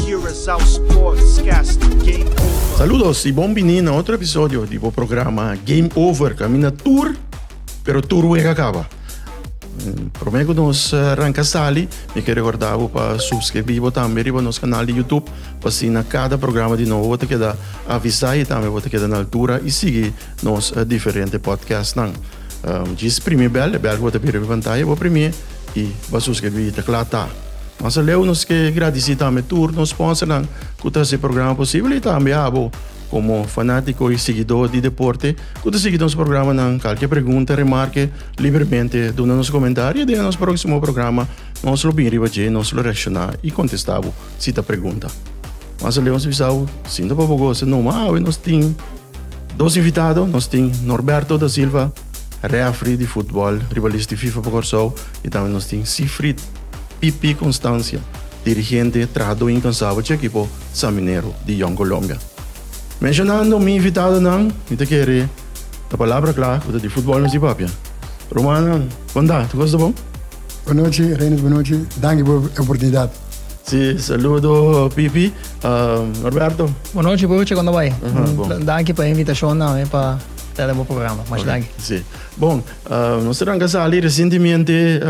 Curaçao Sportscast Game Over. Saludos y bon bini na otro episodio di bo programa Game Over. Camina tur, pero tur wega caba. Mm, Prome cu nos eh, ranca sali, mi quiero recordar bo pa suscribir bo tambe riba nos canal di YouTube, pa si na cada programa di nou bo te queda avisa y tambe bo te queda na altura y sigui nos eh, diferente podcast nan. Um, Jis primi bel, e bel cu bo te bira riba pantaya, bo primi i basus ke bi ta kla ta. Mas aleu nos ke gradisí tambe tur nos sponsornan ku ta hasi e programa posibel i tambe abo komo fanátiko i siguidó di deporte ku ta sigui nos programanan. Kalke pregunta, remarke, libremente duna nos komentario i den nos próksimo programa nos lo bin riba dje, nos lo reakshoná i kontestá bo si ta pregunta. Mas aleu nos bisa bo, sinta pa bo gosa, no, ma awe nos tin dos invitado, nos tin Norberto da Silva, Reafri di futbòl, ribalis di fifa pa Kòrsou i tambe nos tin Sifrid, PP Constancia, dirigente, trahadó inkansabel chi ekipo San Minero di Jong Colombia. Menshonando mi invitadonan, mi ta kere ta palabra kla ku ta di futbòl nos di papia. Rumannan, kondá, ta kos ta bon? Bo nochi, Reynolds, bo nochi. Danki por e oportunidat. Si, saludo PP. Norberto. Bo nochi, Puchi, kondá bai? Danki pa e invitashonnan. Ta na bo programa. Mas danki. Si. Bon, nos ta ranga sali resientemente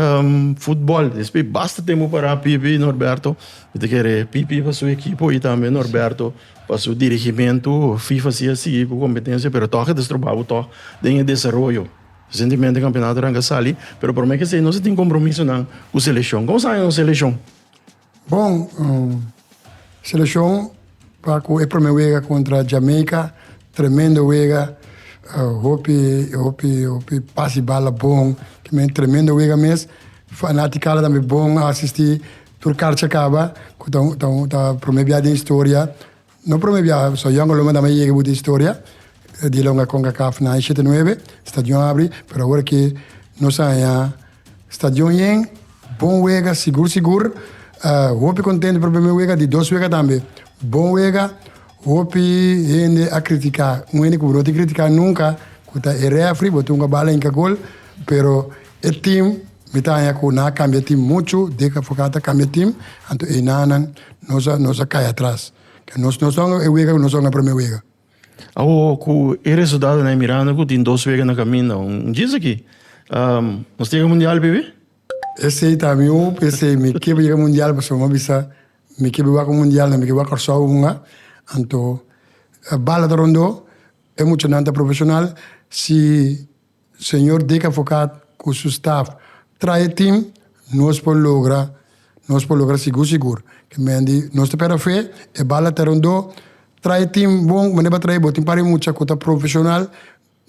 futbol. Despues basta tempu pará Pipi i Norberto. Mi ta kere Pipi pa su ekipo i tambe Norberto pa su dirigimentu. FIFA si a sigui ku kompetensia pero tòg a ta strobá bo tòg den e desaroyo. Resientemente kampionato a ranga sali pero promé kesei nos a tin kompromisonan ku seleshon. Kon a sa nos seleshon? Bon, selekshon pa ku e promé wega kontra Jamaica, tremendo wega, hopi hopi hopi pas di bala bon, ki men tremendo wega mes, fanatikanan tambe bon a asistí, tur karcha kaba, ku ta ta ta promé biaha den historia. No prome biaha so Jan Olonga dame yega bu di historia di loke Concacaf na hesha te nuebe stadion abri pero awor ke nos a haña stadion yen bon wega sigur sigur hopi contento por primer wega di dos wega tambe bon wega hopi hende a critica un hende cu bo no tin critica nunca cu ta e refri bo tun cu a bala hinca gol pero E tim mi ta haña ku nan a kambia tim muchu, deka for ku a ta kambia tim, anto einanan nos a nos a kai atras. Ke nos nos ta hunga e wega ku nos a hunga e promé wega. Awo ku e resultadonan e mirando ku tin dos wega na kaminda, un jinse aki nos ta yega mundial bibi? Esei ta mi hoop, esei mi ke por yega mundial pasobra mi a bisa mi ke por wak un mundial na mi ke wak Kòrsou hunga. Anto bal a ta rondó, e muchanan ta profeshonal, si. Señor Dick Avocat cu su staff trae e team nos por logra nos por logra sigur sigur ke men di nos ta pera fe e bala ta rondo trae e team bon manera ba trae bo tin para e mucha cu ta profesional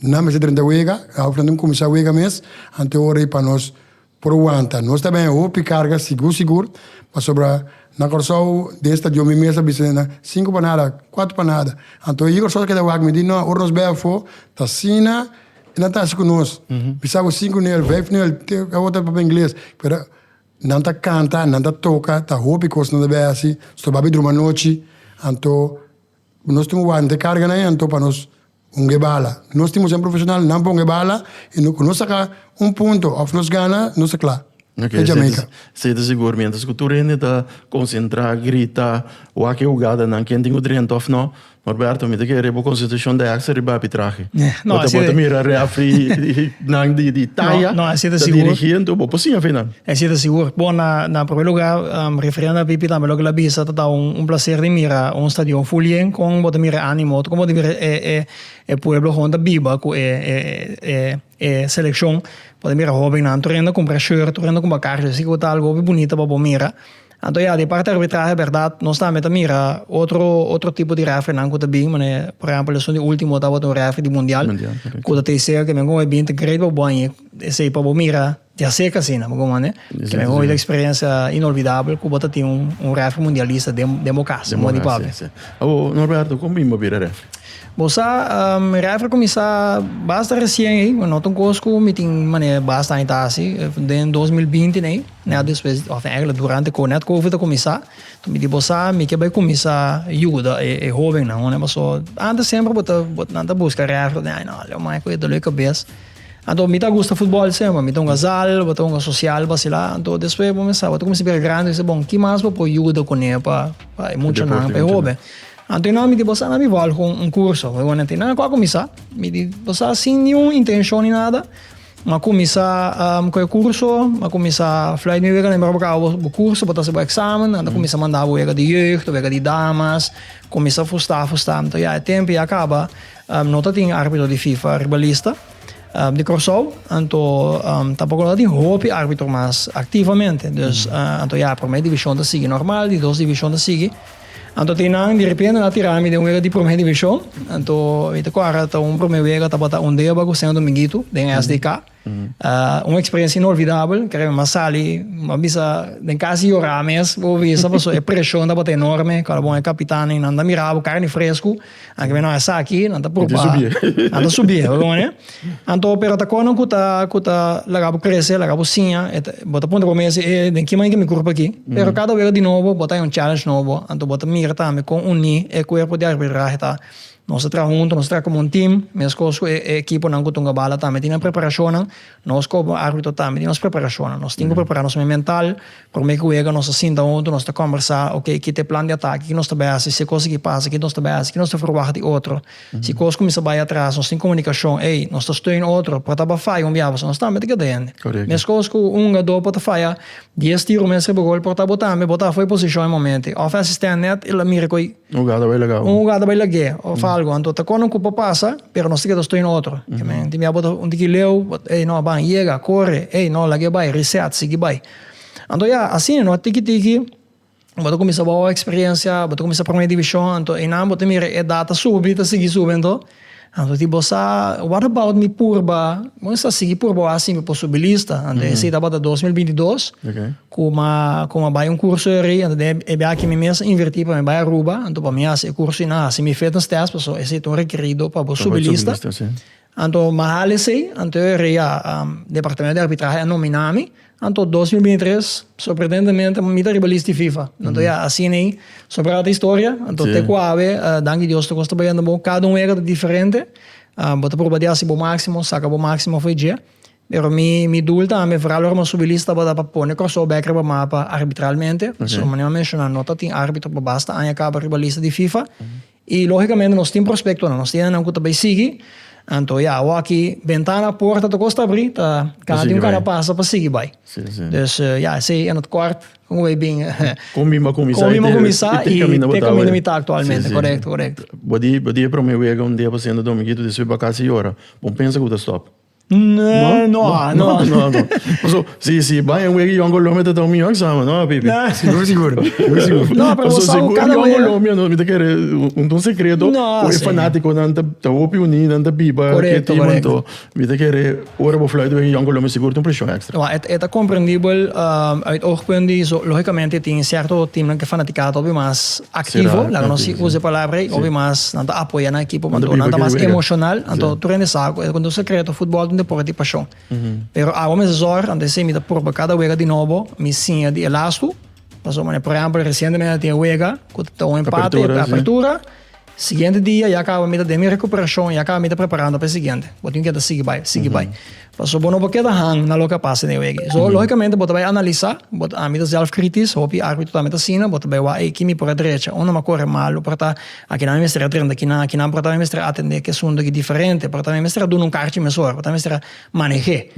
nan mester drenta wega awe nan tin comisa wega mes anto ora y pa nos Por wanta. Nos ta bene hopi carga sigur sigur, pasobra na Corsou den stadion mi mes a bisa den nan cinco panada, cuatro panada. Anto e Corsousa keda wak mi di no ora nos bai afo ta asina nan ta hasi cu nos. Mi sa cu cinco nel, vijf nel te e otro ta papia ingles pero nan ta canta, nan ta toca ta hopi cos nan ta bai hasi, stobabi druma anochi anto. Nos tin un wante karga na hento pa nos hunga e bala. Nos tin moción profesional nan pa hunga e bala y cu nos saca un punto of nos gana nos ta cla. Oke, esei ta sigur mi. Entas cu tur hende ta concentra, grita, wak e hugadanan, ken tin cu drenta of no. Norberto, mi ta kere bo concentracion ta hexa riba arbitrahe. Bo ta mira refereenan di taya ta dirigi hento, bo por siña fe nan. Esei ta sigur. Bon, na na promé lugá, referendo a Pipi tambe loke el a bisa ta ta un plaser di mira un stadion ful yen. Kon bo ta mira e ánimo? Kon bo ta mira e e e pueblo honden ta biba ku e e e e selekshon? Bo ta mira hóbennan tur hende a kumpra short, tur hende a kumpra karro. Asiki ku ta algu hopi bunita pa bo mira. Anto ya, di parti arbitrahe bèrdat, nos tambe ta mira otro otro tipo di rèfrinan ku ta bin. Manera e por ehèmpel esun di último tabata un rèfri di mundial ku ta tei sega kimin ku moe bin ta greit pa bo aña esei pa bo mira. Di a ser c'asina, bo manda kende bo hopi experiencia inolvidable cu bo ta tin un refri mundialista den bo cas, den bo di papia. Abo Norberto, con bin bo bira refri? Bo sa, mi refri cuminsa basta recien ey, no ta un cos cu mi tin manera basta aña ta haci, den dos mil binti n'ey, net despues, of eigenlijk durante co net covid a cuminsa, toa mi di bo sa, mi ke bay cuminsa yuda e hobennan, pasobra antes semper bo ta, nan ta busca refri, nan ta di ay no, leu maya cu e dolor di cabes. Anto mi ta gusta futbol sema, mi ta hunga zal, bo ta hunga sosial, basilá, anto despues bo mester sa, bo ta kuminsá bira grandi, bo ta kibisá bon ki mas bo por yuda kuné pa pa e muchanan, pa e hoben, anto nan mi di bo sa nan mi bal ku un kurso, mi bon anto nan ku a kuminsá, mi di bo sa sin niun intenshon ni nada, m'a kuminsá ku e kurso, m'a kuminsá fly mi wega nan mira bo kaba bo bo kurso, bo ta hasi bo eksamen, nan ta kuminsá manda bo wega di jeugd, wega di damas, kuminsá fustá, fustá, anto ya e tempu ya kaba, No ta tin árbitro di fifa riba lista di Kòrsou, anto tampoko no ta tin hopi árbitro mas aktivamente. Dus anto ya, Promé Divishon ta sigui nòrmal, di Dos Divishon ta sigui. Anto tin nan direpente na tira mi den un wega di Promé Divishon. Anto mi ta kòrda ta un promé wega tabata Ondéba ku Seno Dominguito den SDK. Un experiencia inolvidabel, kere mi a sali, mi a bisa den casi yora mes, bo bisa paso e presion tabata enorme, cuando bo e capitan y nan ta mira bo carni fresco, nan keme nan esaki, nan ta proba, nan ta subi, bo comprende? Anto pero ta conan cu ta cu ta laga bo crece, laga bo siña, bo ta puntra bo mes e den ki manera ki mi curpa aki? Pero cada wega di nobo bo ta haña un challenge nobo, anto bo ta mira tambe con uni e cuerpo di arbitrahe ta. Nos ta traha huntu, nos ta traha komo un tim, meskos ku e ekiponan ku Tungabala tambe tin nan preparashonnan, nos komo árbitro tambe tin nos preparashonnan. Nos tin ku prepará nos mes mental, promé ku wega nos ta sinta huntu, nos ta kòmbersá, okey, kit e plan di atake, kiko nos ta bai hasi, si e kos aki pasa, kiko nos ta bai hasi, kiko nos ta ferwagt di otro, si e kos kuminsá bai atras, nos tin komunikashon, ey, nos ta steun otro, por tabata faya un biaha pasobra nos tambe ta keda hende. Meskos ku un hugadó por ta faya dies tiro mes riba gol, por tabata bo tambe, bo ta afu'e posishon e momente, òf e asistènt nèt el a mira ku ei, Un hugada bai lagá. Un hugada bai lag'é of algu. Anto ta konan ku por pasa, pero nos tiketo stoi na otro. Di mia bo ta un tiki leu, bo ta ey no, ban, yega, kore, ey no, lag'é bai, reset, sigui bai. Anto ya, asina no, tiki tiki bo ta kuminsá bo eksperensia, bo ta kuminsá Prome Divishon, anto einan bo ta mira e edat ta subi, ta sigui subi anto. Anto di bo sa, what about mi purba, bo mester a sigui purba wak sin mi posibilista, anto esei tabata dos mil binti dos, ku mi a bai un kurso ayri, anto den e biaha mi mes a inverti pa mi bai Aruba, anto pa mi hasi e kurso i nan hasi mi fitness test, pasobra esei ta un rekerido pa bo subilista, anto mi a hala esei, anto ayri ya departamento di arbitrahe a nomina mi, Anto dos mil binti tres sorprendentemente mi ta riba list di fifa anto ya asina ei so prata historia anto te ku awe danki Dios tur kos ta bayendo bo kada un wega ta diferente bo ta proba di hasi bo maximo saka bo maximo for dje pero mi mi doel tambe foral ora mi a subi list tabata pa pone Kòrsou bek riba mapa arbitralmente pasobra manera mi a menshona no tatin arbitro pa basta aña kaba riba lista di fifa. I lógikamente nos tin prospektonan, nos tin hendenan ku ta bai sigui, anto ya awòkki bentana, porta tokos ta abrí, ta gana di un kara pasa pa sigui bai. Dus ya esei en het kort kon bai bin kon bin a kuminsá i te kaminda mi ta aktualmente, korekto korekto. Bo di e promé wega un dia pa sienta Domingito, despues bakasi i ora, bon pensa ku ta stòp. No, no, no, no. Paso, si, si bai en wegi Yon Colombia te tau mi ook samen, no, Pipi? Sigur, sigur. Sigur, sigur. No, pero Paso, sabe, sigur cada Yon wea- Colombia, no, mi te kere un ton secreto. No, Oe sí. fanático nan te, te hopi uní, nan te biba. Correcto, ke timan correcto. to. Mi te kere, ora bo fluit wegi Yon Colombia, sigur tin presión extra. Wel, e, e ta comprendible, ehm, uit oogpunt di, so, lógicamente tin cierto teamnan ke fanaticada ta hopi mas, Aktivo, laga nos si usa e palabra ei, hopi mas nan ta apoya nan ekipo, nan ta mas emoshonal, anto tur hende sa ku e ta konta un sekreto, futbòl ta un depòrte di pashon. Pero awa mi ta zòr, anto esei mi ta proba kada wega di nobo, mi siña di e las ku, pasobra manera por ehèmpel resientemente nan tin e wega ku ta tabata un empate, apertura, siguiente dia ya kaba mi ta den mi rekuperashon, ya kaba mi ta preparando pa e siguiente, bo tin ku ta sigui bai, sigui bai. Pasobra bo no por keda hang na loke a pasa den e wege. So, lógikamente bo ta bai analisá, bo ta, ami ta zèlfkritis, hopi árbitro tambe ta asina, bo ta bai wak, ey, ki mi por a drecha? Unda mi a kore malu? Por ta, akinan mi mester a drenta kinan, akinan por ta mi mester a atendé ki asuntu aki diferente, por ta mi mester a duna un karchi mesora, por ta mi mester a maneh'é.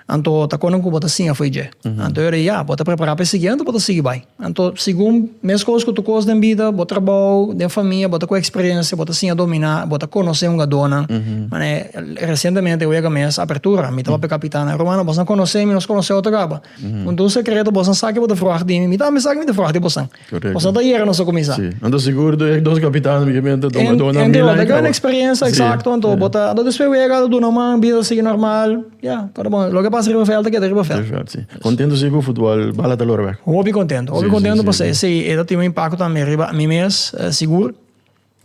Anto ta kònde ku bo ta singa afui dje. Anto yora di ya, bo ta prepará pa e siguiente o bo ta sigui bai? Anto, segun meskos ku Tukos den bida, bo trabou, den famia, bo ta ku eksperensia, bo ta siña dominá, bo ta konosé un adónan. Manera resientemente e wega mes apertura, mi tabata kapitán, nan, Rumannan, bosan konosé mi, nos konosé otro kaba. Un ta un sekreto, bosan sa ke bo ta fruwak di mi, mi tambe sa ke mi ta fruwak di bosan. Bosan ta yera nos a kuminsá. Anto sigur ta yek dos kapitán mi ke mi a ta duna mil aña trabou. Gran eksperensia, eksakto. Anto bo ta, anto despues wega a ta duna man, bida ta sigui normal. Ya, para bon, loke pasa riba vèlt ta keda riba vèlt. Riba vèlt, si. Kontentu si ku futbòl bala ta lora bèk? Hopi kontentu, hopi kontentu pasobra esei e ta tin un impakto tambe riba mi mes, sigur,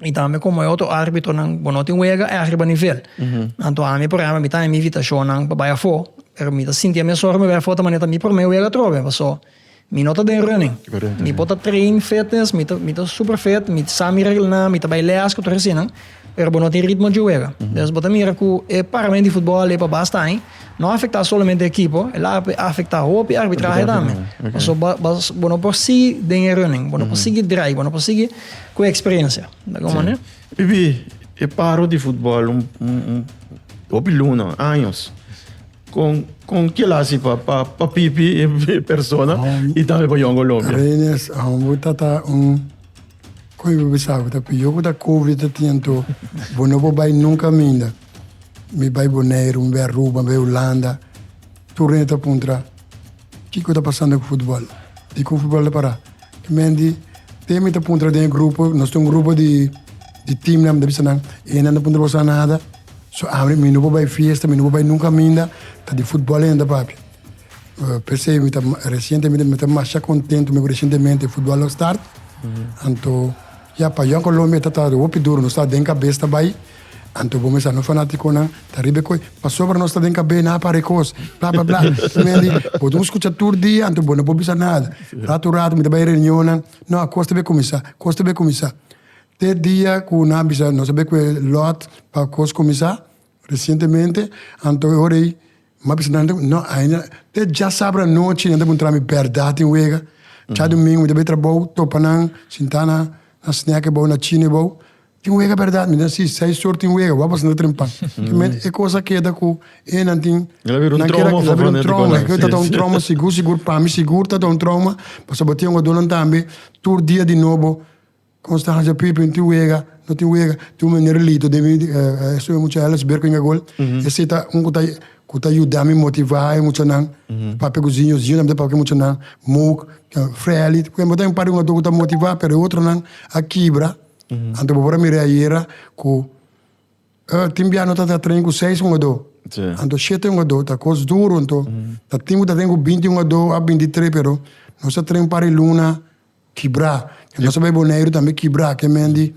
i tambe komo e otro arbitronan bo no tin wega èk riba nivel. Anto ami, por ehèmpel, mi ta na mi invitashonnan pa bai afó, pero mi ta sinti ami asorgo mi bai afó ta manera ta mi promé wega atrobe, paso. Mi no ta den running. Mi por ta train fitness, mi ta mi ta super fit, mi sa mi reglnan, mi ta bai les ku tur hesinan, pero bo no tin ritmo dje wega. Entonces bo ta mira ku e paramento di futbol e pa basta aña no afektá solamente e ekipo, el a afektá hopi arbitrahe tambe. Pasobra bo bo bo no por sigui den e running, bo no por sigui drai, bo no por sigui ku e eksperensia. Ta algun manera. Bibi, e paro di futbol un un un hopi luna, años. Con con kiel a haci pa pa pa pipi e persona y tambe pa yongo lombia? Reines, ahon bo ta ta un con bo bisa bo ta piyo bo ta covid ta tin anto bo no bo bay nunca minda mi bay Boneiru mi bay Aruba mi bay Hulanda tur rende ta puntra kico ta pasando cu futbol dico futbol ta para ki men di te mi ta puntra den e grupo nos tin un grupo di di team nan mi ta bisa nan e nan ta puntra boso a nada So ami mi no por bai fiesta mi no por bai nunca aminda ta di futbol ainda papi p'esei mi ta recientemente mi ta masha contento mi cu recientemente futbol lo start anto ya pa yo en Colombia ta ta hopi duro nos ta den cabes ta bai anto bo mester a nos fanaticonan ta riba e cos pasobra nos ta den cabe na para e cos bla bla bla mendi bo ta scucha tur dia anto bo no por bisa nada rato rato mi ta bai reunionnan no a cos ta be cuminsa cos ta be cuminsa Te e dia ku nan a bisa nos a be ku e lòt pa kos kuminsá resientemente, anto e ora ei mi a bisa nan, no ainda, te dja sabra anochi nan ta puntra mi bèrdat tin wega? Djadumingu mi ta bai trabou, topa nan sintá na snèk ebou, na chino ebou, tin wega bèrdat? Mi bisa, si, seis or tin wega, wòrdu a sinta trempá. E kos a keda ku e nan tin, el a bira un trouma, el a bira un trouma, e tabata un trouma sigur sigur, pa mi sigur tabata un trouma, pasobra tin ogadónan tambe tur dia di nobo. Nos ta hanja pui p'e tin wega, no tin wega, tin un mene relito den mi esun e mucha Ellis Berco Inga Gol, esei ta un ku ta ku ta yuda mi motivá e muchanan, papia ku Zinho, Zinho tambe ta papia ku e muchanan, Mouk, Freli, por ehempel ta un par di hungaton ku ta motivá pero e otronan a kibra, anto bo por a mira ayera ku e tin bia no ta ta train ku seis hungadó, anto shete hungadó ta kos duru, anto ta tin ku ta train ku binti hungadó a binti tres pero nos ta train un par di luna Kibrá, e nos a bay Boneiru tambe kibrá ke men di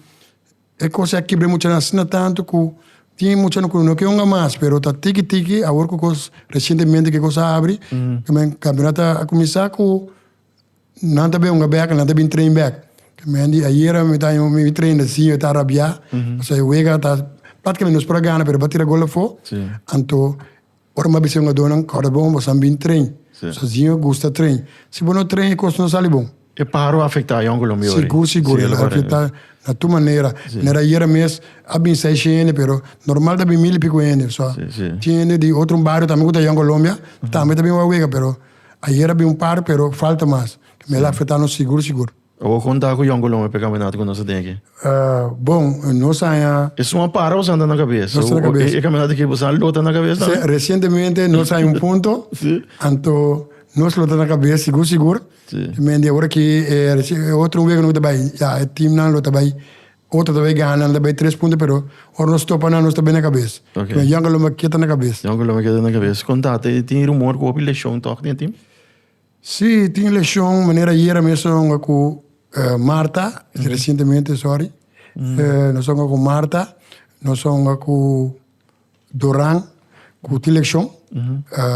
e kos ya kibr'é mucha asina tantu ku tin mucha ku no ke hunga mas pero ta tiki tiki awor ku kos resientemente ku e kos a abri kimin kampeonat a kuminsá ku nan ta bin hunga bèk nan ta bin train bèk ke men di ayera mi ta mi bin train así mi ta rabiá pasobra e wega ta práktikamete nos por a gana pero e ba tira gol afó anto. Ora m'a bisa e hongadónan, Kòrda bon, boso a bin tren. Sòsiño gusta tren. Si bo no tren, e kos no sali bon. E páharo a afektá Yon Colombia ori? Sigur, sigur. El a afektá na tur manera. Manera ayera mes a bin seis hende, pero normal ta bin mil i piku hende. So, tin hende di otro bario tambe ku ta Yon Colombia, tambe ta bin wak wega, pero ayera a bin un par, pero falta mas. Mel a afektá nos sigur, sigur. Awor kon ta ku yonkolon e pekaminata ku nos a tin aki? Bon, nos a haña. E sun a para o santa na kabes? Nos santa na kabes. E kaminata ki bo sa lo ta na kabes tambe? Si, resientemente nos a haña un punto. Si. Anto nos lo ta na kabes sigur sigur. Si. Men di awor aki e otro wega no ta bai, ya e timnan lo ta bai, otro ta bai gana, nan ta bai tres punto pero ora nos topa nan nos ta bai na kabes. Ok. Pero yonkolon a keda na kabes. Yonkolon a keda na kabes. Kon ta tin rumor ku hopi leshon tok den e tim? Sí, tin e leshon manera ayer a mes nos hunga ku Marta, resientemente, sòri. Nos a hunga ku Marta, nos a hunga ku Doran, ku tin leshon.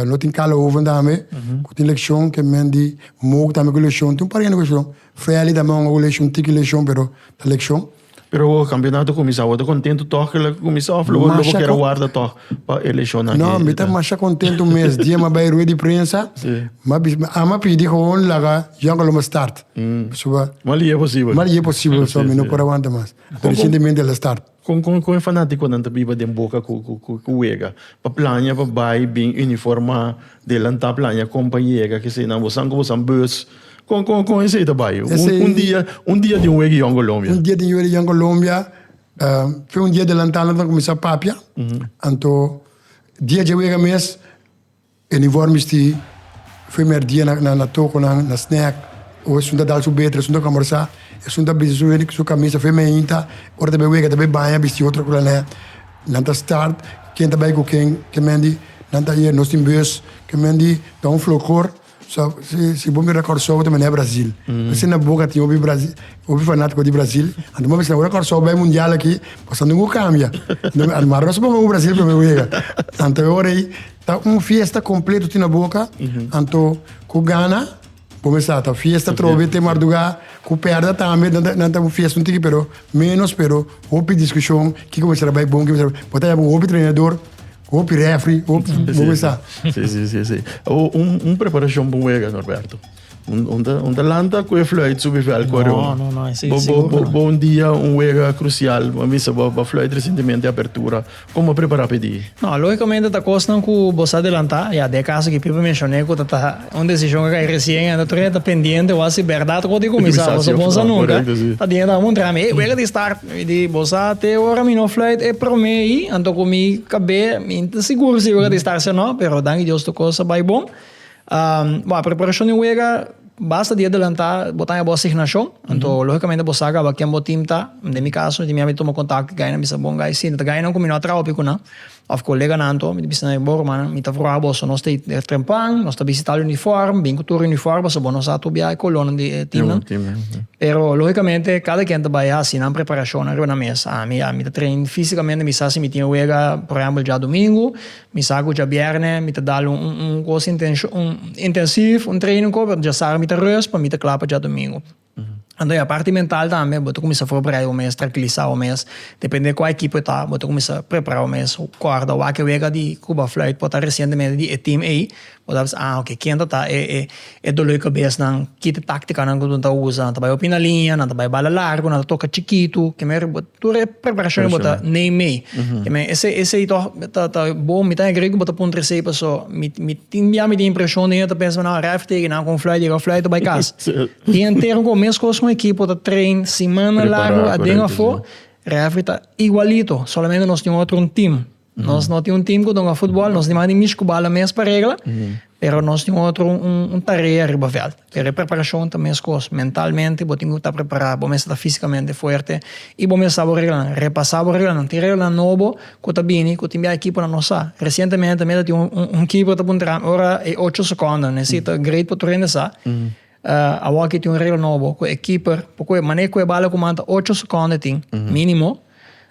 Lo tin Carla Hoven tambe, ku tin leshon, ke men di Mouk tambe ku leshon. Tin un par hende ku leshon. Feli tambe a hunga ku leshon, tiki leshon, pero ta leshon. Pero awor campeonato a cuminsa, awor ta contento toch cu lo a cuminsa of lo bo lo bo quiere warda toch pa eleccionnan? No, mi ta masha contento mes dia mi a bay rued di prensa, si. mi a bisa, mi ama pidi gewoon laga Johan Colombo start, pasobra Mal y e posibel. mal y e posibel pasobra si, mi no por a wanta mas. Con, Recientemente el a start. Con, con, con e fanaticonan ta biba den boca cu, cu, cu, cu wega? Pa plania pa bay, bin, uniforma, delanta plania con pa yega, keseyo nan, bo san cu bo san bus. Con con con esey ta bay? Un, Esey- un dia, un dia di un wegi yon Colombia. Un dia di yuri yan Colombia, eh, fue un dia adelantado na tan comenzar papia. Anto dia je wega mes, el informes ti primer dia na na, na toco na, na snack. O esun ta dal su beter, esun ta conversa, esun ta bisti su, su camisa firme ainda. Ora ta bay wega ta bay baña bisti otro cosa ne. Nan ta start ken ta bay cu ken, ken men di nan ta ayer nos tin bus, ken men di ta un flocor. So si bo mira Kòrsou bo ta mira Brazil pasobra na boka tin hopi Brazil hopi fanatiko di Brazil anto bo a bisa ora Kòrsou bai mundial aki pasobra anto bo kambia arimari nos a ponga un Brazil prome bo yega anto e ora ei ta un fiesta kompleto tin na boka anto ku gana bo a bisa ta fiesta trobe te marduga ku pèrda tambe nan ta un fiesta un tiki pero menos pero hopi diskushon kiko bo a bisa ta bai bon kiko bo a bisa ta bai bon bo ta yama hopi trenador. Hopi refri, hopi boesa. Sí, sí, sí, sí. O, un, un preparacion pa un wega, Norberto. Un, un, ta, un ta lanta cu e fluit subi vel cu No, no, no, ese bo, bo, seguro bo, no. bo un dia un wega crucial, bo bisa bo, bo fluit recentemente apertura. Como prepara pa e di? No, logicamente ta cosnan cu bo sa adelanta. Ya, den e caso cu Pipe mencione cu ta, ta un decision cu a cai recien, enta tur e ta pendiente wak si berdad cu ta cuminsa, pasobra bon sa nunca. Correcto, sí. Ta diente abo un trami, hey, wega ta start. Mi di, Bo sa, te ora mi no fluit e prome ei, anto ku mi kab'é, mi ta sigur si e wega ta estarse o no, pero danki Dios tur kos a bai bon. Bo a preparashon di un wega basta di adelantá, bo ta haña bo asignashon, anto lógikamente bo sa kaba ken bo tim ta, den mi kaso, mi ta mira mi tuma kontakto di gainan, mi sa bon gai, si no ta gainan ku mi no a traha hopi ku nan. Of koleganan to, mi ta bisa na e, Bo rumannan, mi ta vruha boso, nos ta e trempan, nos ta bisita al unifòrm, bin ku tur e unifòrm, pasobra bo no sa tu biaha e kolornan di e timnan. Pero lógikamente kada ken ta bai hasi nan preparashonnan riba nan mes. Ami ya mi ta trein físikamente, mi sa si mi tin wega, por ehèmpel, djadumingu, mi sa ku djabièrnè mi ta dal un un un kos intenshon, un intensív, un treino ku mi ta rùst pa mi ta kla pa djadumingu. Anto ya parti mental tambe bo ta kumisa forberá bo mes trankiliza bo mes depende di kua ekipo e ta bo ta kumisa prepará bo mes kòrda wak e wega di Cuba Fluit por ta resientemente di e team ei bo ta bisa ah oke kienta ta e e e dolor di kabesnan ki ta táktikanan ku bo ta usa nan ta bai hopi na liña nan ta bai bala largu nan ta toka chikitu ke manera bo. Tur e preparashon bo ta neem mee. Esei toch ta bon. Mi ta agree ku bo ta puntra esei paso mi tin bia mi tin impreshon den e ta pensa nan arrive teken nan kon fly deka fly ta bai kas. Dia entero kon mes kos kon ekipo ta train semana largo aden afo. Refri ta igualito solamente nos tin otro un team. Nos no tin un team cu ta hunga futbol, nos dimanda di mishi cu bala mes pa regla, pero nos tin otro un tarea riba veld. Pero e preparacion ta mescos, mentalmente bo tin cu ta prepara, bo mester ta fisicamente fuerte y bo mester sa bo reglanan, repasa bo reglanan. Tin reglanan nobo cu ta bini cu tin bia ekiponan no sa. Recientemente mi ta tin un keeper ta puntranan ora e ocho seconda, necesita grade pa tur hende sa. Awor aki tin un regla nobo ku e keeper por koe manera ku e bal a kuman ta ocho sekonde tin minimo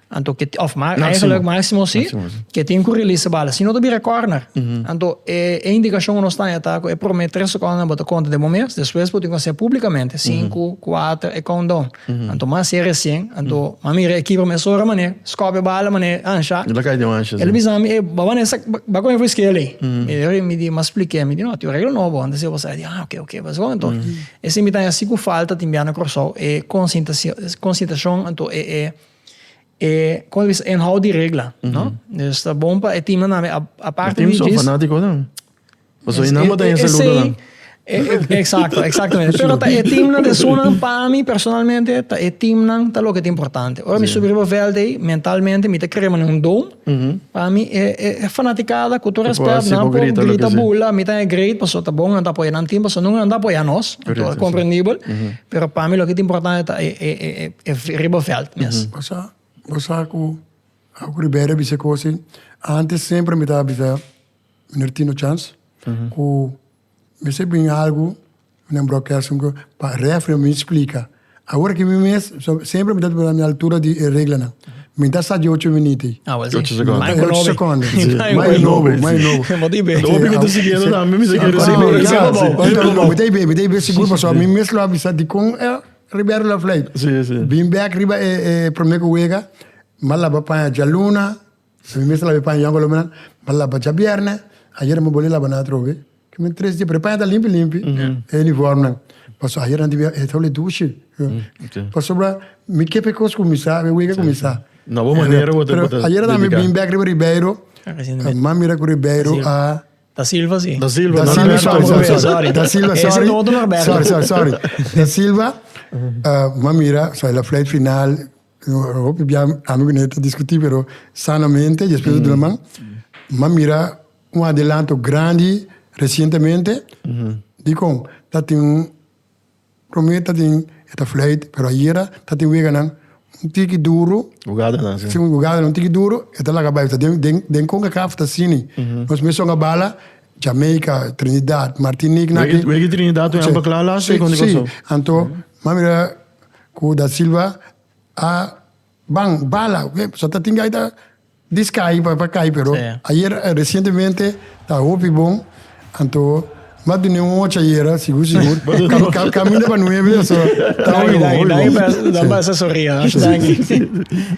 anto ke tin òf eigenlijk maksimo si ke tin ku release e bal sino ta bira kòrner anto e indikashon ku nos ta haña ta ku e promé tres sekondenan bo ta konta den bo mes despues bo tin ku hasi'a publikamente sinku kuater e kountdoun Anto mas e resien, anto ma mira e kibra mes ora manera, skopia bala manera ansha. E ta kai den ansha si. El a bisa mi, e ba manera sak, ba kome for skea lei. E ora mi di, mas splikia mi di no, tin un regla nobo anto si basa. E di ah ok ok basa kon anto. E si mi ta hasi ku falta tin bia na Kòrsou e konsintasion, konsintashon anto e e e kome ta bisa e inhoud di regla no. Dus ta bon pa e team nan tambe aparte di djis. E team son fanatiko tambe. Paso e namba ta e saludonan. Exacto, exactamente. Pero ta e teamnan de Suriname, pa mi personalmente, ta e teamnan ta loke ta importante. Ora mi subi riba veld ei, mentalmente mi ta kere mane un dome. Pa mi e e fanaticada, cu tur respect, nan por grita bula, mi ta na e grade, paso ta bon nan ta apoya nan team, paso nunca nan ta apoya nos, comprendible. Pero pa mi loke ta importante ta e e e e riba veld mes. Bo sa, bo sa cu Ribery a bisa e cosa ei, antes semper mi ta bisa. Mester tino chans cu mester bringa algu den broadcasting cu pa refri mi splica. Ahora que mi mes, semper mi ta na mi altura di e reglanan. Mi ta sa di ocho miniti. Ah, well si. Ocho seconden. Mai cu nobi. Ocho seconden. Si. Mai nobi, mai nobi. Mo ta i be. Nobi mi ta siguiendo tambe, mi ta kere si bo e sa bo. Ocho seconden. No, mi ta i be, mi ta i be sigur pasobra mi mes lo a bisa dikon e Ribeiro lo a fly. Si, si. Bin bek riba e prome cu wega, mi a laba paña djaluna, Si mi mester labe paña yògolo mi a laba djabièrnè, ayernan mi bolei labanan atrobe. Ke men tres dia, pero e paña ta limpi limpi, e uniformnan. Pasobra ayernan tin bia e tabele dushi. Pasobra mi ke pe kos ku mi sa, mi wega ku mi sa. Nobo manera bo ta dedika. Pero ayera mi bin bèk riba Ribeiro, m'a mira ku Ribeiro a. Da Silva si. Da Silva, sorry, sorry. Da Silva, sorry. Sorry, sorry, sorry. Da Silva, m'a mira, so e la flight final, Hopi bia ami ku Nete ta diskutí pero sanamente i despues ta duna man. Mi a mira un adelanto grandi resientemente dikon ta tin un promé ta tin e ta fleit pero ayera ta tin weganan un tiki duru. Hugadanan si. Si un hugadanan un tiki duru e ta laga bai ta den Concacaf ta asini. Nos mesun a bala Jamaica, Trinidad, Martinique nan aki. Wega Trinidad wen amba kla lasa i konta i pasó. Si, anto mi a mira. Ku Da Silva a ban bala oke so ta tin gaita diskai pa pa kai pero ayer resientemente ta hopi bon anto mas di un ocho ayera sigur sigur kaminda pa nuebe so ta hopi bon hopi bon danki danki mester sorri a danki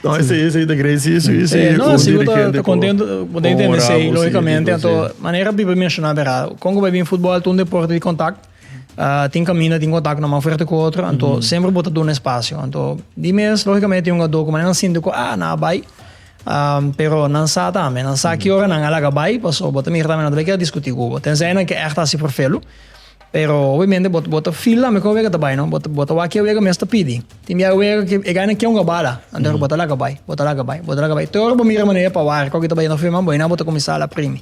no ese ese ta great si si si un dirigente ku honorabel si logicamente anto manera biba menshoná bera kon ku bai bin futbol ta un deporte di kontak Tin kaminda tin kontak na man fuerte ku otro, anto semper bo ta duna espasio. Anto di mes lógikamente tin un adó ku mane nan sinti ku a nan a bai, pero nan sa tambe, nan sa ki ora nan a laga bai, pasobra bo ta mira tambe nan ta bai kier a diskutí ku bo. Tensai nan ke ègt a hasi por felu, pero obviamente bo bo ta feel tambe ku e wega ta bai no, bo ta bo ta wak ke wega mes ta pidi. Tin biaha e wega ke e gana ke ungá bala, anto bo ta laga bai, bo ta laga bai, bo ta laga bai, te ora bo mira manera pa wari kòke ta bai yendo afe man bo, ayina bo ta kuminsá a la primi.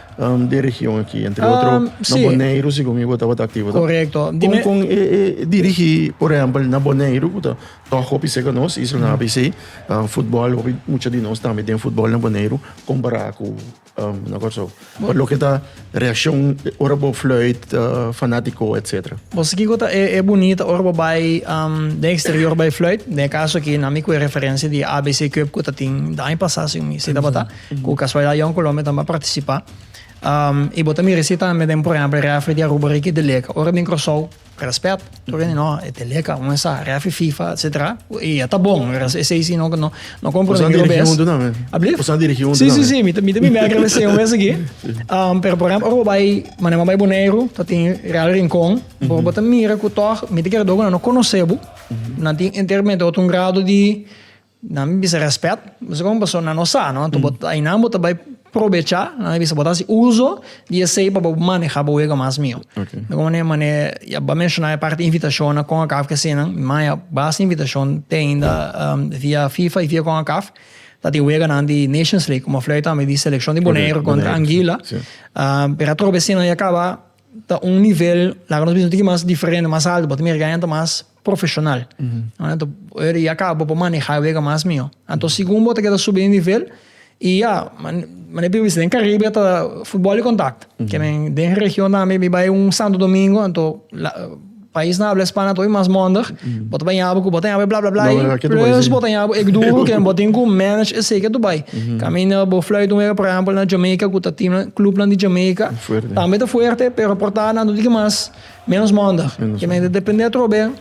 den region aki, entre otro um, na sí. Boneiru, según mi bota bota activo. Correcto. Con, con eh, eh, dirigi, por ejemplo, na Boneiru, bota, toch hopi seca nos, isla na ABC, uh, ah, fútbol, hopi mucho de nos también den fútbol na Boneiru, comparado con, um, na Corso. Por lo que ta reacción, ora bo fluit, uh, ah, fanático, etc. Vos aquí gota e, e bonita, ora bo bij, um, den exterior bij fluit, den caso aquí, na mi referencia de ABC Cup, gota tin, de año pasado, si mi, si da bota. Mm -hmm. Ku kasualidat Jan Colombia tambe a partisipá. I bo ta mira esei tambe den por ehèmpel refri di Aruba Ricky de Leca. Ora e bin Kòrsou, rèspèt, tur gen di no, e te Leca, un mensá, refri FIFA, etsetera. I e ta bon, esei si no no kompra otro bes. Bo sa dirigí huntu tambe? Abli? Bo sa dirigí huntu tambe? Si, si, si, mi ta mi ta mi mèkere esei un bes aki. Pero por ehèmpel ora bo bai, mane bo bai Boneiru, ta tin Real Rincon, bo bo ta mira ku tòg, mi ta kere dor ku nan no konosé bo, nan tin enteramente otro un grado di. Nan mi bisa respet, esaki un paso nan no sa, no? Anto bo ta, einan bo ta bai probecha, nan mi bisa bo ta hasi uso di esei pa bo maneha bo wega mas mihó. Okay. Di kon manera, mane, ya bo a menshona e parti invitashon na Concacaf ke asina, mi man ya basta invitashon te ainda via fifa i via Concacaf, ta tin wega nan di Nations League, komo a flei tambe di selekshon di Boneiru kontra Anguila, pero atrobe asina ya kaba ta un nivel laga nos bisa un tiki mas diferente mas alto bo ta mira kaña ta mas profesional ora di yaka bo por maneha e wega mas mihó anto segun bo ta keda subi e nivel y ya manera pi bisa den caribe ta futbol y contact ke den region tambe mi bai un santo domingo anto. Pais na habla Spana ta hopi mas mondig. Bo ta baña bo cu bo ta ñabe bla bla bla y plus bo ta ñabe bo ec duro que bo tin cu manage esey ke tu bay. Caminda bo fluit un wega por ehempel na Jamaica cu ta team clubnan di Jamaica tambe ta fuerte pero por ta nan tu tin cu mas menos mondig. Depende atrobe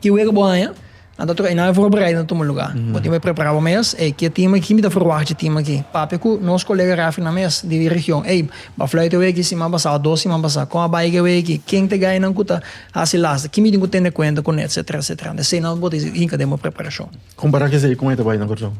ki wega bo haña. Nan ta trohe, nan a voorbereiden ta tuma lugá. Bo tin por a prepará bo mes, ey, ke tima aki? Kin mi ta ferwagt dje tima aki? Papia ku nos kolega Raffinan mes di e region, ey, Bafluit a wei aki siman pasá, dos siman pasá, kon a bai ke wei aki? Ken ta e gainan ku ta hasi lasta? Kin mi tin ku tende kuenta ku nan? Etsetera, etsetera. Anto esei nan bo ta hinka den bo preparashon. Kompará kesei kon e ta bai na Kòrsou?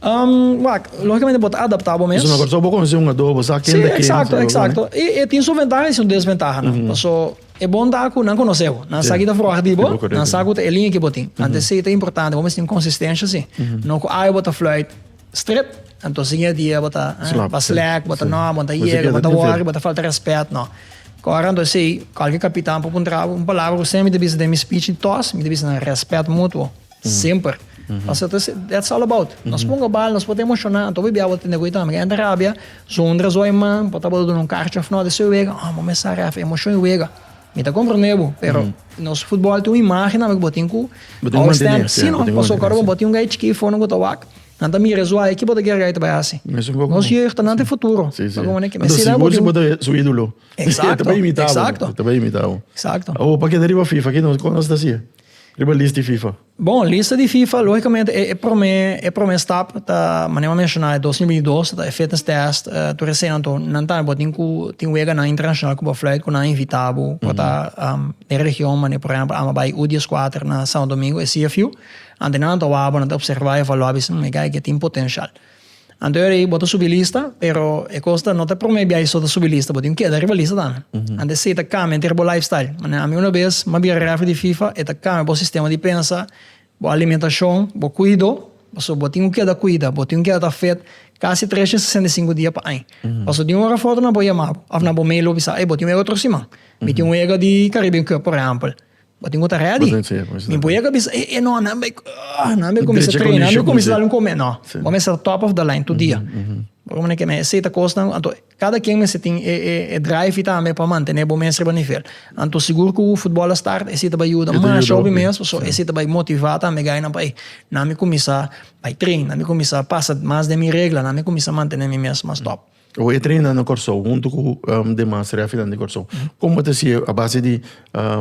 Wak, lógikamente bo ta adaptá bo mes. Pasobra na Kòrsou bo konosé un adobo, bo sa ken ta ken, esaki loke. Sí, eksakto, eksakto. I e tin su ventaha i su desventahanan. Paso E bon ta ku nan konosé bo. Nan sa ki ta froha di bo, nan sa ku ta e liña ki bo tin. Anto esei ta importante, bo mester tin konsistensia si. No ku awe bo ta fluit strip, anto siña dia bo ta slack, bo ta no, bo ta yega, bo ta wòri, bo ta falta rèspèt, no. Kòrda anto esei, kòlke kapitan por puntra bo, un palabra ku sempre mi ta bisa den mi speech di tòs, mi ta bisa nan rèspèt mutuo. Semper. Pasobra ta esei, that's all about. Nos pongo bal, nos por ta emoshoná, anto bo bia bo ta tende ku ei tambe. Kende rabia, zonder razon man, por ta bo ta duna un karchi òf nòt, esei wega, oh, bo me sa ref, emoshon i wega. Mi ta komprendé bo, pero nos futbòl tin un imágen tambe ku bo tin ku always stand. Sí o no? Pasobra ku awor bo tin un guy chikí for nan ku ta wak, nan ta mira e su eye, kibo ta kier e guy ta bai hasi? Nos yeugt, nan tin futuro. Anto sigur si bo ta su ídolo, e ta bai imitá bo, e ta bai imitá bo. Exacto. Awor, pa keda riba Fifa, kiko nos ta hasié? Riba lista di FIFA? Bon, lista di FIFA logicamente e prome e prome stap ta manera mi menciona e dos mil binti dos ta e fitness test tur e sena anto nan tambe bo tin cu tin weganan internacional cu bo fluit cu nan invita bo cu ta den region manera por ejemplo amo bay u dies cuater na Santo Domingo e CFU ante nan a tawabo nan ta observa y evalua bisa hmm e guy aki a tin potencial. Anto e bo ta subi lista pero e cosa no ta prome biaha so ta subi lista bo tin keda riba lista tambe anto esey ta cambia enter bo life style manera ami una bes mi a bira refri di fifa e ta cambia bo sistema di pensa bo alimentacion bo cuido pasobra bo tin keda cuida bo tin keda ta fit casi tres dia sesenta y cinco dia pa aña pasobra tin ora foto nan por yama bo of nan por mey lobi sa ey bo tin wega otro siman mi tin wega di caribe cup por ejempel. Bo tin ku ta ready. Mi boyaka a bisa, eh, eh, no, nan bai, ah, nan bai kuminsá treina, nan bai kuminsá dal un kume. No, bo mester ta top of the line tur dia. Bo ta mira ke mester seta kosnan, anto kada kien mester tin e, e, e drive tambe pa mantené bo mes riba nivel. Anto sigur ku futbòl a start, esei ta bai yuda masha hopi mes, pasobra esei ta bai motivá tambe gainan pa ei, nan bai kuminsá bai trein, nan bai kuminsá pasa mas den mi regla, nan bai kuminsá mantené mi mes mas top. Oe e treina na Kòrsou huntu ku demas reafinan di Kòrsou. Kon bo ta si a base di,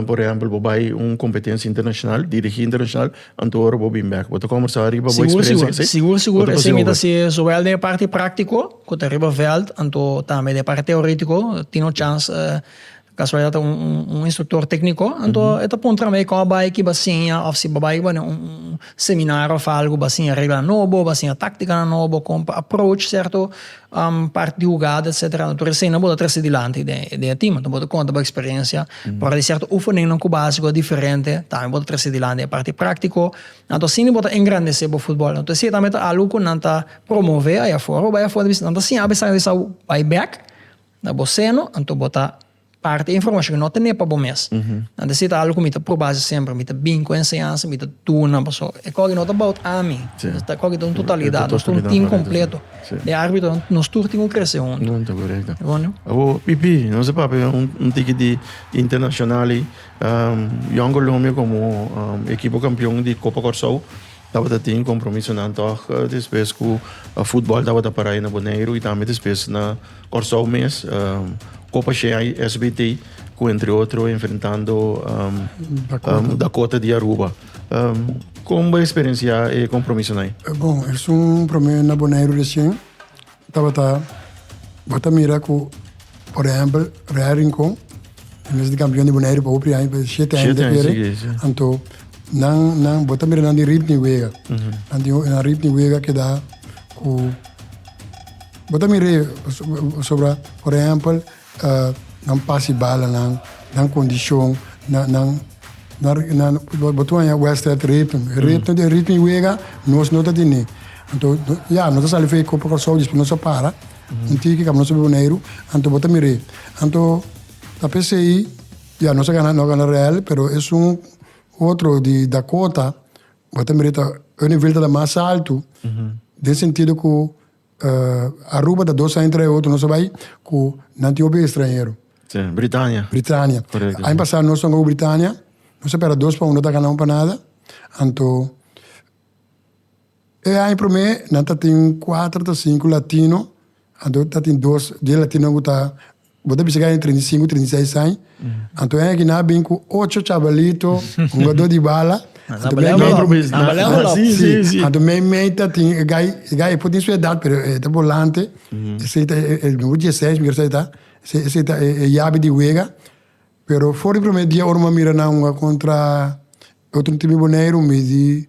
por ehèmpel, bo bai un kompetensia internashonal, dirigí internashonal, anto ora bo bin bèk? Bo ta kòmbersá riba bo eksperensia ku esei? Sigur, sigur, sigur. Esei mi ta si souwel den e parti práktiko ku ta riba vèlt, anto tambe den e parti teoritiko, tin un chans Kasualidad ta un instruktor tekniko anto e ta puntra mi kon a bai ki ba siña òf si bo bai pa un seminario òf algu ba siña reglanan nobo ba siña táktikanan nobo kon pa approach sierto part di hugada etsetera tur esei nan bo ta trese dilanti den e tim anto bo ta konta bo eksperensia por e sierto ufeninnan ku básiko diferente tambe bo ta trese dilanti den e parti práktiko anto asina bo ta engrandese bo futbòl anto esei tambe ta algu ku nan ta promove aya for bo bai afuer nan ta siña a pesar di esau bai bèk. Na bo seno, anto bo ta parti e informashon ku no ten'é pa bo mes. Na disi ta algu ku mi ta proba si semper, mi ta bin ku enseñansa, mi ta duna paso e kògi no ta bout ami, e kògi ta un totalidat, nos ta un tim kompleto. E arbitro, nos tur tin ku krese huntu. Awo PP, nos a papia un tiki di internashonal ei, Young Colombia komo ekipo kampion di Kopa Kòrsou tabata tin kompromisonan tòg, despues ku futbòl tabata para ei na Boneiru i tambe despues na Kòrsou mes, Copa Shanghai SBT, ku entre otro enfrentando Dakota di Aruba. Kon bo eksperensiá e kompromisonan? Bon, es un promé na Boneiru reshen tabata, bo ta mira ku por ehèmpel Real Rincon, e mes di kampion di Boneiru pa hupri aña, pa shete aña ta kere, anto nan, bo ta mira nan di ritmo di wega, nan di ritmo di wega keda ku. Bo ta mir'é pasobra, por ehèmpel, nan pasi bala nan, nan kondishon, nan, nan, nan, bo ta haña wèstèd ritm. Ritm di ritm di wega nos no ta tene. Anto, ya, nos ta sali for e Copa Kòrsou, despues nos a para un tiki kaminda nos a bai Boneiru. Anto bo ta mir'é. Anto, ta p'esei, ya, nos a gana, nos a gana rèl, pero esun otro di Dakota, bo ta mir'é ta, e nivel tabata mas altu den sentido ku. Aruba ta dos aña entre e otro nos a bai cu nan tin hopi estranhero. Si, Britania. Britania. Correcto. Aña pasado nos tocaba Britania, nos a pera dos pa uno ta gana un pa nada. Anto e aña prome nan ta tin cuatro ta cinco latino, anto ta tin dos di e latinonan cu ta Bo ta bisa ku a den treinta i sinku, treinta i seis aña. Anto e aki nan a bin ku ocho chabalito, hungadó di bala. Anto mei mei. Nan balea bolop. Si, si. Anto mei mei ta tin e gai, e gai e por tin su edat pero e ta bolante. Esei ta e numero dieseis mi resa e ta. Esei, esei ta e yabi di wega. Pero for di prome dia ora mi a mira nan hunga kontra otro tim di Boneiru mi di.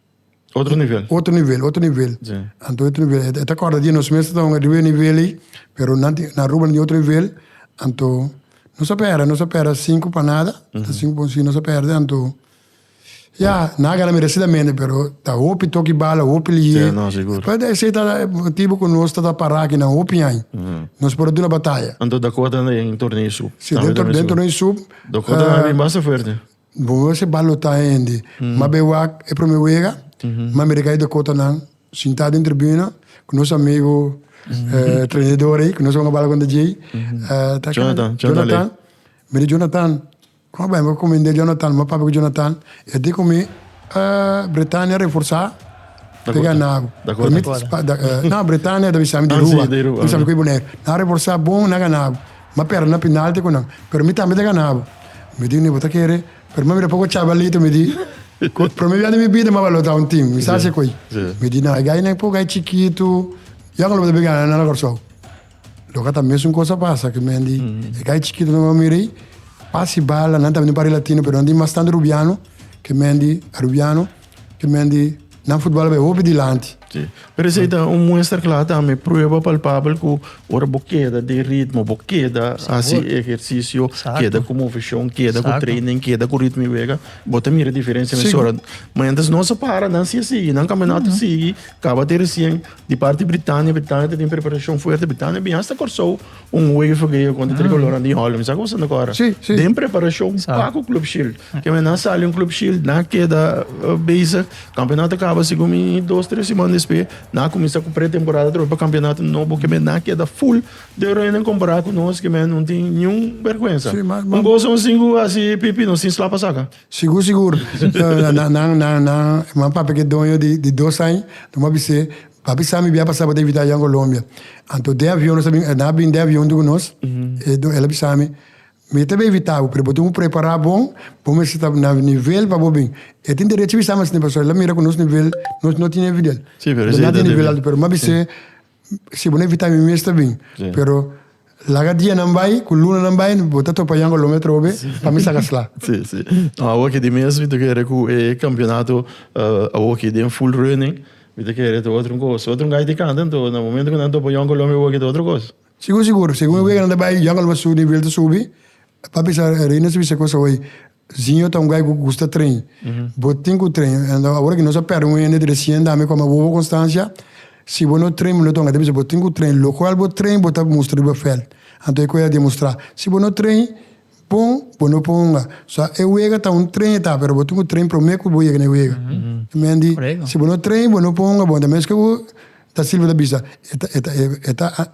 Otro nivel. Otro nivel, otro nivel. Si. Anto otro nivel. E ta kòrda di nos mes ta tabata riba e nivel ei, pero nan tin, na Aruba nan tin otro nivel, anto nos a pèrdè, nos a pèrdè sinku pa nada, ta sinku pa un si nos a pèrdè, anto ya, nan a gana meresidamente, pero ta hopi toki bala, hopi lihé, despues esei ta motibu ku nos ta pará aki nan hopi aña, nos por a duna bataya. Anto dakota den torneo i sup. Si, den torneo i sup. Dakota a bin basta fuerte. Bo no hasi balotá hende. Ma be wak e promé wega, ma mira kai Dakota nan sintá den tribuna ku nos amigu trenador ei ku nos a wak bal kontra djei. Jonathan, Jonathan. Mi di Jonathan, kon a bai? Mi a komend'é Jonathan, mi a papia ku Jonathan, i a di ku mi, Bretania reforsá ta gana bo. Dakota. Bretania ta bisa mi di Aruba, ta bisa mi ku e Bonaire. Nan reforsá bon, nan gana bo. M'a perde na penalti cu nan. Pero mi tambe ta ganabo. Mi di, ni bo ta kere. Pero m'a mira poco chabalito, mi di. Cu prome bia di mi bida m'a baló ta un team. Mi sa haci coy. Mi di, nan, e gainan e poco ai chikito. Yo anco lo bo ta bin gana na Cor-sou. Lo ca ta mesun cos a pasa cu men di e gai chikito nan. M'a mira ei, pas i bala. Nan tambe di un pari latino, pero nan di mas tanto rubiano cu men di arubiano. Te men di nan futbal a bay hopi dilanti. Sí. Pero esei ta un muestra kla tambe, prueba palpabel ku ora bo keda den ritmo, bo keda hasi Sabor. ehersisio, Exacto. keda ku movishon, keda ku Exacto. training, keda ku ritmo i wega, bo ta mira diferensia na Sí. sora. Ma entres nos a para, nan sigue sigui, nan kaminata sigui, kaba te resien di parti Britania, Britania ta den preparashon fuerte, Britania bin asta Kòrsou, Un UEFA ke yo konta Tricolor mm. di Holland. Sa kosa na kora. Sí, sí. Den preparashon pa ku Club Shield. Ke men na sali un Club Shield, na keda uh, bezig. Kampionato kaba si kumi dos, tres semana despe. Na kumisa ku pretemporada trobe pa kampionato nobo ke men na keda full de reina kompará ku nos ke men non tin niun vergüenza. Sí, ma, ma, un gozo un singu asi pipi nos tin slapa saka. Sigur, sigur. na, na, na, na, ma papi ke doño di, di dos año, no ma bise, Pa bisa mi bia pasa pa David aya in Colombia. Anto den avion nos a bin, nan a bin den avion junto cu nos. E don, el a bisa mi, Mi ta bevita bo, pero bo tin cu prepara bon, bo mester ta na nivel pa bo bin. E tin derecho bisa mi asina, pasobra el a mira cu nos nivel, nos no tin e nivel. Nos no tin nivel alto, pero mi a bis'e, si bo no invita mi, mi mester bin, pero. Laga dianan bai cu lunanan bai bo ta topa Yango Lome atrobe pa mi saca sla. Sí, sí. No, awo ki di mes mi ta kere cu e campeonato awo ki den full running mi ta kere ta otro un cos. Otro un gay di canta anto na momento cu nan topa Yango Lome awo ki ta otro cos. Sigur, sigur. Segun e wega nan ta bai Yango Lome su nivel ta subi. Papi sa Reina su bisa cos awo ey. Siño ta un guy cu gusta train. Bo tin cu train. Awor aki nos a perde un hende dre cien dame coma wowo constancia. Si bo no train bo no ta ung'e. Ta bisa bo tin cu train. Locual bo train bo ta mustra di bo feld. Anto e cu a demostra. Si bo no train bon bo no por ung'a. So e wega ta un train e ta pero bo tin cu train prome cu bo yega n'e wega. Mendi si bo no train bo no por ung'a bon ta meske bo ta silba ta bisa e ta e ta e ta.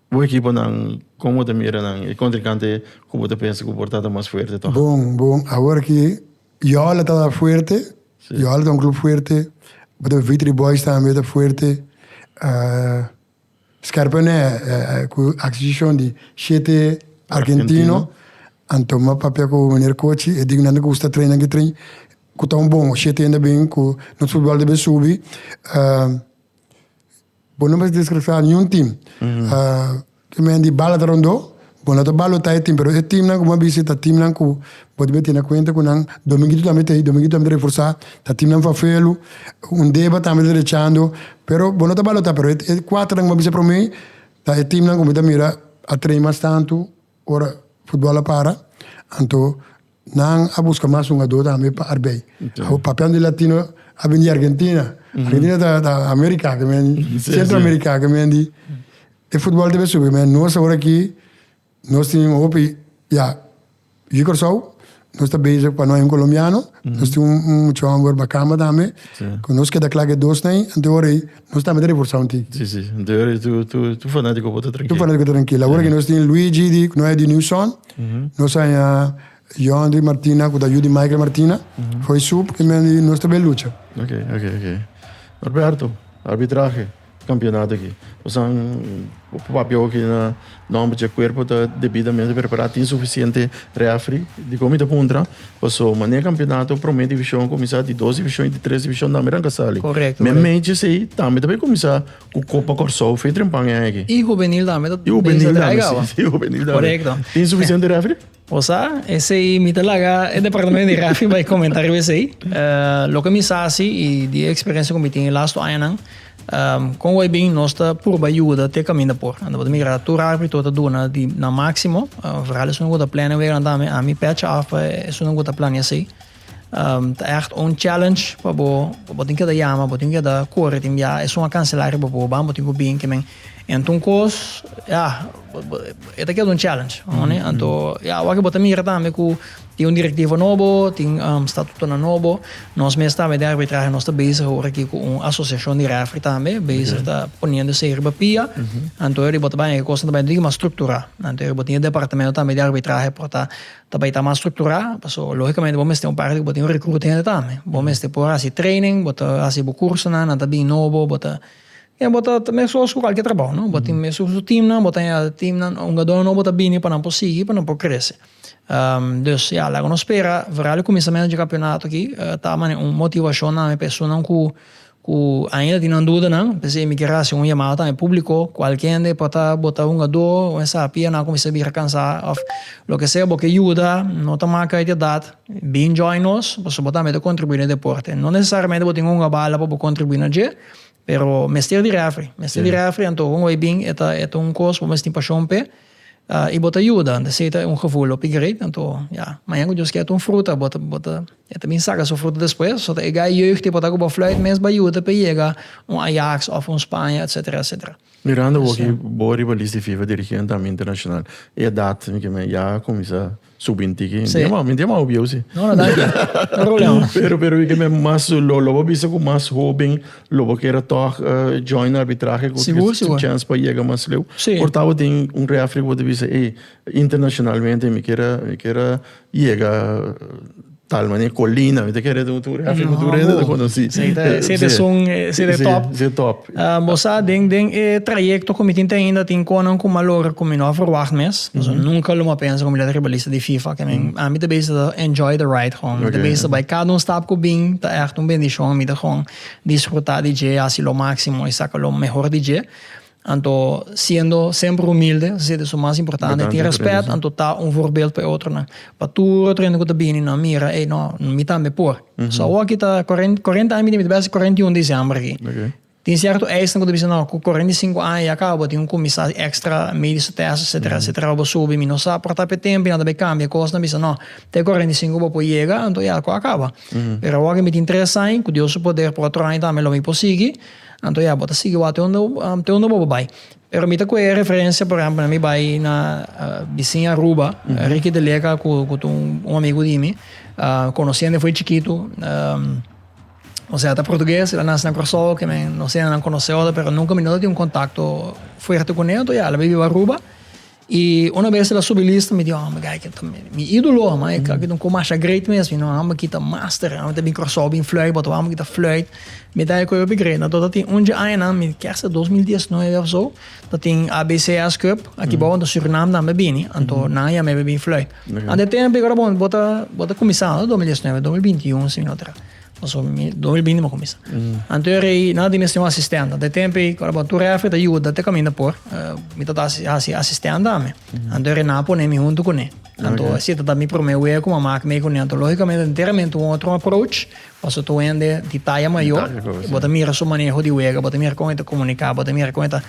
Bo ekiponan, kon bo ta mira nan? E kontrinkante ku bo ta pensa ku por ta ta mas fuerte tòg? Bon, bon, awor ki Yola ta fuerte, Yola ta un klup fuerte, bo ta Vitry Boys tambe ta fuerte, Scherpenheuwel ku aksishon di shete arkentino an toma papia ku miner Cochi, e dignan ta gusta tren aki tren ku ta un bon shete hende a bin ku nos futbòl debe subi. Bo no mester discrefia niun team. Ki men di bala ta rondó, bo no ta balotá e team, pero e teamnan ku bo a bisi ta teamnan ku bo debe tene kuenta ku nan dominguito tambe ta ei, dominguito tambe ta reforsá, ta teamnan fafelu, un deba tambe ta derechando, pero bo no ta balotá, pero e kuaternan ku bo a bisa promé ta e teamnan ku mi ta mira a train mas tantu ora futbòl a para, anto Nan a buska mas un ador tambe pa arbei. Awor papian di latino a bini di Argentina. Argentina ta ta America kimendi, Centro America kimendi. E futbol ta be subi kimendi. Nos awor aki nos tin hopi ya di Corsou nos ta bezig pa no hay un colombiano. Nos tin un muchu homber bakamba tambe cu nos keda cla cu e dos na hay anto e hora ey. Nos tambe ta reforsá un tin. Sí, sí. Anto yo rei tur, tur, tur fanático por ta trankil. Tur fanático ta trankil. Awor aki nos tin Luigi di, ku no e di New Sun. Nos a haña Yondri Martina, ku ta yu di Michael Martina. Fo'i su, por kemia di nos ta bai lucha. Ok, ok, ok. Norberto, arbitrahe, kampionato aki. Nos a papia oki na Nomber dje cuerpo ta debidamente prepará, tin suficiente refri. Dicó mi ta puntra? Paso manera campeonato prome division a cuminsá, di dos division y di tres division tambe nan casali. Correcto. Me mes dje esei tambe ta bay cuminsá cu Copa Corsou fetrenpan e aña aki. Y juvenil tambe ta bay sa traiga awa. Y juvenil tambe ta bay sa traiga awa. Y juvenil tambe, si juvenil tambe. Correcto. Tin suficiente refri? Bo sa, esei mi ta laga e departamento di Rafi bai comenta riba esei. Loke mi sa si y di e experiencia cu mi tin e last two añanan, con Wybin nos ta purba yuda te caminda por. Anta bo ta mira tur arbri tur ta duna di nan maximo, vooral esunat cu ta plena weganan tambe, ami pecha af pa esunat cu ta plania esei. Ta ègt un challenge pa bo, bo tin keda yama, bo tin keda kore tin biaha, esun a kanselá riba bo, bo amo tin ku bin kimen. Anto un kos, ya, e ta keda un challenge, òne? Anto, ya, awor ku bo ta mira tambe ku tin un direktivo nobo, tin statutonan nobo, nos mes tambe den arbitrahe nos ta bezig awor aki ku un asosiashon di rèfri tambe, bezig ta poniendo esei riba pia, anto eri bo ta baña ku e kosnan ta baña digi mas strukturá. Anto eri bo tin e departamento tambe di arbitrahe por ta. Ta bai ta mas structurá, paso lógicamente bo mester un parti cu bo tin un recruta hende tambe. Bo mester por haci training, bo ta haci bo cursonan, nan ta bin nobo, bo ta, ya bo ta mescos cu cualkier trabao, no? Bo tin mescos cu su teamnan, bo ta añadi teamnan, hungadornan nobo ta bini pa nan por sigui, pa nan por crece. Dus, ya, laga nos spera, vooral e cuminsamentu dje campeonato aki, ta manera un motivacion tambe pa esunnan cu, Ku ainda tin nan dudanan, p'esei mi kier hasi un yamada tambe públiko ku alki hende por ta botá un adó o esaki i a nan kuminsá bira kansá òf loke sea. Bo ke yuda, no ta maka uit di edat, bin join nos pasobra bo tambe ta kontribuí na e deporte. No nesesariamente bo tin un bala pa bo kontribuí na dje, pero mester di refri. Mester di refri, anto un wey bin e ta e ta un kos ku bo mester tin pashon p'e i bo ta yuda. P'esei ta un gevoel hopi greit. Anto, ya, mañana ku Dios kèr ta un fruta bo ta bo ta E ta bin saka su fruto despues. So ta e gai jeugd e por ta ku bo fluit mes bai yuta pa e yega un Ajax òf un Spaña etsetera etsetera. Mirando bo aki bo riba lis di fifa dirigí un tambe internashonal. E edat mi ke men ya a kuminsá subi un tiki. Mi diama mi diama obiou si. No no danki no problema. Pero pero mi ke men mas lo lo bo bisa ku mas hoben lo bo kera tòg join arbitrahe ku su chèns pa yega mas leu. Por tabatin un refri ku bo ta bisa ey internashonalmente mi kera mi kera. Yega tal mane colina, mi ta kere un tur haci un tur hende ta conoci. Sí, ta si ta sun, si ta top. Sí, si ta top. Bo sa den den e trayecto cu mi tin ten ainda tin conan cu mi a logra cu mi no a verwacht mes. Pasobra nunca lo mi a pensa cu mi lo ta ribalista di fifa. Cu men, ami ta bezig ta enjoy the ride gewoon. Mi ta bezig ta bay cada un stap cu bin ta echt un bendicion. Mi ta gewoon disfruta di dje, haci lo maximo y saca lo mehor di dje. Anto siendo semper humilde, esaki ta su mas importante, tin respet, anto ta un voorbeeld pa e otronan, pa tur otro hende ku ta bini nan mira, ey no, mi tambe por. So awoki ta kuarenta, kuarenta aña mi tin, mi ta bes kuarenta i un disiember aki. Tin sierto eisen ku ta bisa, no, ku kuarenta i sinku aña ya kaba, bo tin un kuminsá ekstra, mediso tèst, etsetera, etsetera, pa bo subi, mi no sa por ta petemp, nan ta bay kambia kosnan, bisa no, te kuarenta i sinku bo por yega, anto ya, ku a kaba. Pero awoki mi tin tres aña, ku Dios su poder, por otro aña tambe lo mi por sigui. Anto ya, bo ta sigui wak te unda te unda bo bai. Pero mi ta koe e referencia por ehempel na mi bai na bisin Aruba, Ricky de Leca cu cu ta un amigo di mi, conoci ende fo'i chikitu, osea ta portugues, el a naci na Curaçao, oke men no se nan conoce otro pero nunca mi no ta tin un contacto fuerte cune, anto ya el a biba Aruba, Y una bes el a subi lista mi di oh amba Geiken ta mi idolo amba e kla kitu kumasha great mes mi no amba kita master amba ta bin Curaçao bin fluit botaba amba kita fluit mi ta e koe begrepen na dota tin undje añanan mi ker sa dos mil dies nuebe of so ta tin ABCS cup aki bou anto Surinam tambe a bini anto nan a yamebe bin fluit ante tempo y ora bo ta bo ta kuminsando dos mil dies nuebe dos mil binti un si mi no tra. Paso mi dos mil binti mi a cuminsa. Anterior ei nan a tin esnan asistenta. Dje tempo ei cu a tabata tur refri ta yuda te caminda por. Mi ta haci asistenta ami. Anto ei nan a pone mi hunto cu ne. Anto si ta mi prome wea cu mi a maki mey cu ne. Anto logicamente enteramente un otro approach. Paso ta wende di taya mayor. Bo ta mira su maneho di wega. Bo ta mira con e ta comunica. Bo ta mira con e ta.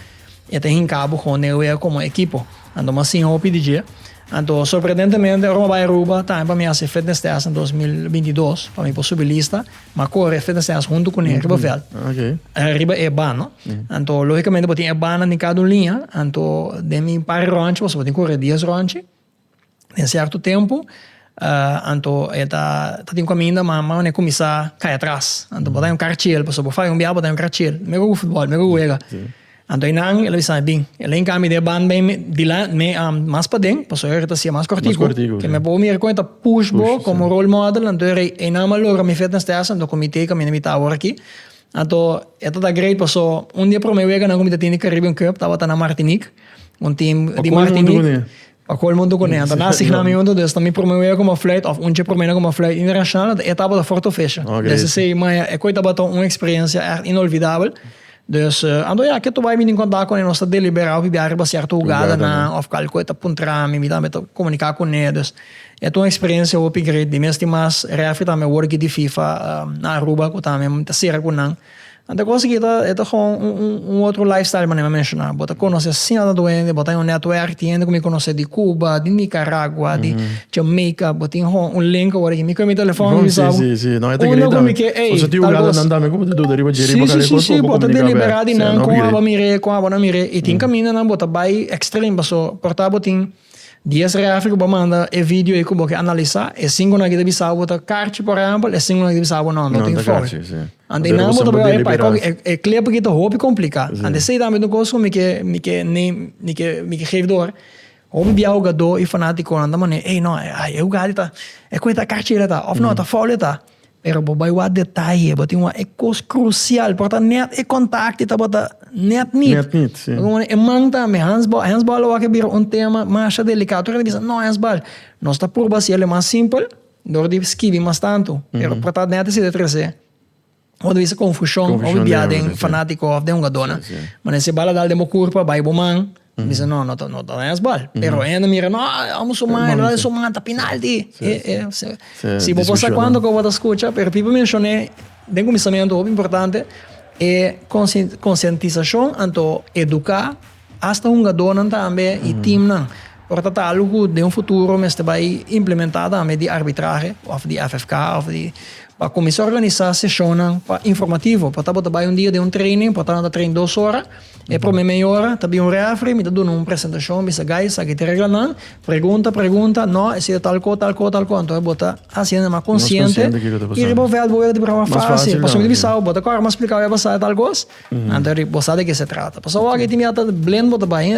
E ta hinká bo kon e wea komo ekipo. Anto mas tin hopi di dje. Anto sorprendentemente ora mi bai Aruba tambe pa mi hasi fitness test den dos mil binti dos pa mi por subi lista, m'a kore fitness test huntu ku nan riba vèlt, riba e ban no. Anto lógikamente bo tin e bannan den kada un liña, anto den mi par ròntji boso bo tin kore dies ròntji. Den sierto tempo anto e ta tin caminda ma mane cuminsa cay atras anto bo ta un cara chel pasobra bo fai un biaha bo ta un cara chel me gusta futbol me gusta wega anto eynan el a bisa bin el a yega mi den e banda me dilan me mas paden pasobra ey ta siya mas cortico ke me por mira como ey ta push bo como role model anto eynan a logra mi fe den stess anto con mi tey caminda mi ta awor aki anto e ta ta great pasobra un den e prome wega nan cu mi ta tin den Caribbean cup tabata na martinique. Un team di Martinique. Pa koe mundo kune. Anto nan asigna mi huntu, dus ta mi prome wea kuma fluit òf un dje prome na kuma fluit internashonal. E etapa ta for tufesha. Desde esei maya e koe tabata un eksperensia èrt inolvidabel. Dus, anto ya ke tu bai mindi kontak kune, nos ta deliberá pi bia riba sierto hugadnan òf kal koe ta puntra mi. Mi tambe ta komuniká kune. Dus, e ta un eksperensia hopi great. Di mes tin mas, refri tambe a wòrdu git di Fifa na Aruba ku tambe mi ta sera ku nan. Nan ta gosa ki e ta gou un otro lifestyle manera mi a menshoná bo ta konosé asina tantu hende bo ta un network di hende ku mi konosé di Cuba di Nicaragua di Jamaica bo tin gou un link awor aki mi kue mi telefòn mi bisa bo unda ku mi ke ey tal kos si si si bo ta deliberá di nan kon abo a mir'é kon abo a no mir'é i tin kaminda nan bo ta bai extreme paso por ta bo tin. Dies refi ku bo manda e video ei ku bo ke analisá, e singu nan ke ta bisa bo ta karchi por ehèmpel, e singu nan ke ta bisa bo no, no ta informe. Ante ei nan bo ta por bai pa e kòke e klep aki ta hopi kompliká. Ante esei tambe ta un kos ku mi ke mi ke mi ke mi ke gevi dor. Hopi bia hugadó i fanátikonan ta manera ei no e hugada ei ta e kue ta karchi el a ta òf no ta fòul el a ta. Pero bo bai wak detaye, bo tin wak e kos krusial, por ta nèt e kontakte tabata nèt nit. Nèt nit, si. E man tambe, hènsbòl, hènsbòl lo wak a bira un tema masha delikado. Tur a kende bisa, no, hènsbòl. Nos ta purba hasi el mas simpel dor di skibi mas tantu. Pero por ta nèt esei ta trese, bo ta bisa, konfushon òf biaha den fanátiko òf den hungadónan. Mane si bo a la dal den bo kurpa, bai bo man. Mi bisa, no, no ta hesbal. Pero hende a mira, no, amo su man, el wak su man, ta pinalti. Si bo por sa kuantu ku bo ta skucha, pero piba menshoné den kuminsamentu, hopi importante, e konsientisashon anto eduká hasta hungadónan tambe i timnan. Por ta ta algu ku den un futuro mester bai implementá tambe di arbitrahe òf di FFK òf di pa kuminsá organisá seshonnan pa informativo. Por ta bo ta bai un dia den un training, por tabata training dos ora. E prome meiora ta bin un refri, mi ta duna un presentashon, bisa, Guys, aki ta e reglanan, pregunta, pregunta, no, e siña tal ko, tal ko, tal ko, anto bo ta hasiendo mas konsiente, i riba bo vèlt bo wea ta bira mas fásil, pasobra mi ta bisau bo, ta kòrda mas splikau e pasá e tal kos, anto bo sa di ke se trata. Pasobra aki tin mi ata blend bo ta bai,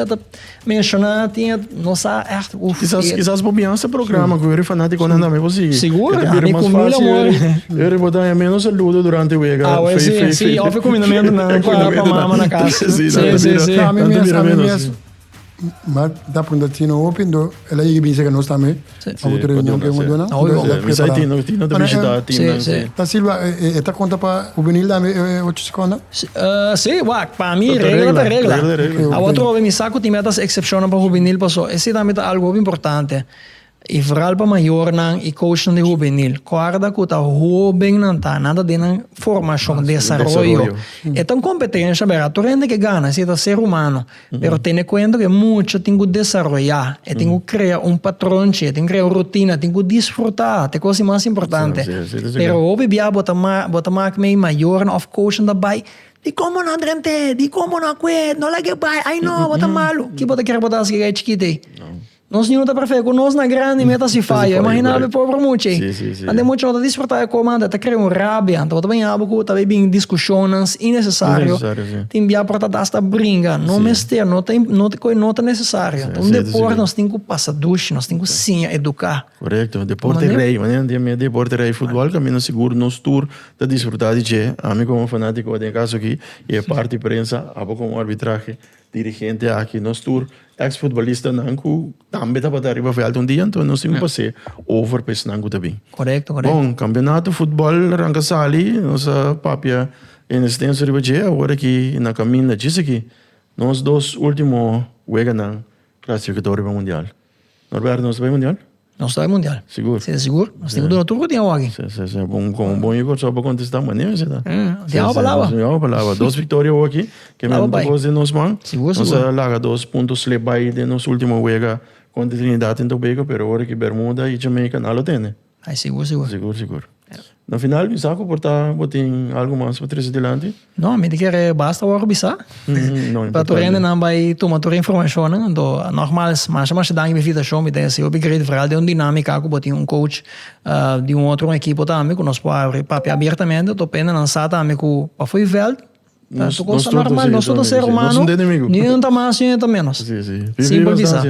Menshona tin e nos sa echt uf. Kisas kisas bo bian sta programa ku Yuri Fanatikonan tambe bo sigui. Sigur, a mi ku mil amor. Yuri bo ta meno saludo durante wega. Awe si si of e kuminamentu nan pa mama na kas. Si si si si. A mi mes a mi mes. M'a ta punta tin hopi ento el a yega bin sega nos tambe. Otra reunion ke bo duna. Misa e tino, tino ta bishita e team nan si. Ta silba e ta konta pa hubenil tambe e ocho sekunda? Si, wak, pa mi regla ta regla. Awa otro hopi mi sa ku tin meda ta eksepshonnan pa hubenil paso esi tambe ta algu hopi importante i foral pa mayornan i coachnan di hubenil. Kòrda ku ta hoben nan ta, nan ta den nan formashon, desaroyo. E ta un kompetensha, tur hende ke gana si e ta ser humano. Pero tene kuenta ku e mucha tin ku desaroyá, e tin ku krea un patronchi, e tin ku krea un rutina, e tin ku disfrutá, ta e kos di mas importante. Pero hopi bia bo ta bo ta mak mei mayornan òf koushnan ta bai, Dikon bo no a drent'é? Dikon bo no a kue? No lag'é bai! Ai no, bo ta malu! Ki bo ta kere ku bo ta hasi ku e gai chikit ei? Nos niño ta perfeto cu nos na grandi me ta haci fallo imagina abe pobre mucha ey ante mucha no ta disfruta de coma ante ta crea un rabia ante bo ta bini abo cu ta bay bini discusiones innecesario tin bia por ta dado hasta bringa no mester no ta no ta necesario un deporte nos tin cu pasa dushi nos tin cu siña educa corecto deporte rey manera nan tin deporte rey football ta menos sigur nos tur ta disfruta di dje ami como fanatico den caso aki y e parti prensa abo como arbitrahe. Dirigente aki nos tur ex futbolistanan ku tambe tabata ariba vèlt un dia, anto nos tin ku pas'é over pa esnan ku ta bin. Korekto, korekto. Bon, kampionato futbòl a ranka sali, nos a papia en estenso riba dje, awor aki na kaminda djis aki nos dos último weganan klasifikatorio pa mundial. Norberto nos ta bai mundial? Nos ta bai mundial. Sigur? Si ta sigur. Nos tin ku duna tur ku tin awa aki. Si, si, si. Bon, kon un bon jugador so pa kontesta mane mester ta. Nos tin awa palabra. Nos tin awa palabra. Dos viktoria awa aki. Ke mi ta pos den nos man. Sigur, sigur. Nos a laga dos punto slep bai den nos ultimo wega kontra Trinidad den Tobago, pero ora ki Bermuda i Jamaica nan lo tene. Ai sigur sigur. Sigur sigur. Na final bisa ku por ta bo tin algo mas pa trese dilanti? No, mi ta kere basta wòrdu bisa. No importante. Pa tur hende nan bai tuma tur e informashonnan. Anto nògmals, masha masha danki pa e invitashon. Mi ta hasi hopi great foral den un dinámika aku bo tin un coach di un otro un ekipo tambe ku nos por abri papia abiertamente. Anto pa hende nan sa tambe ku pafui vèlt ta tur kos normal. Nos tur ta ser humano. Ni un ta mas ni un ta ménos. Simpel di sa.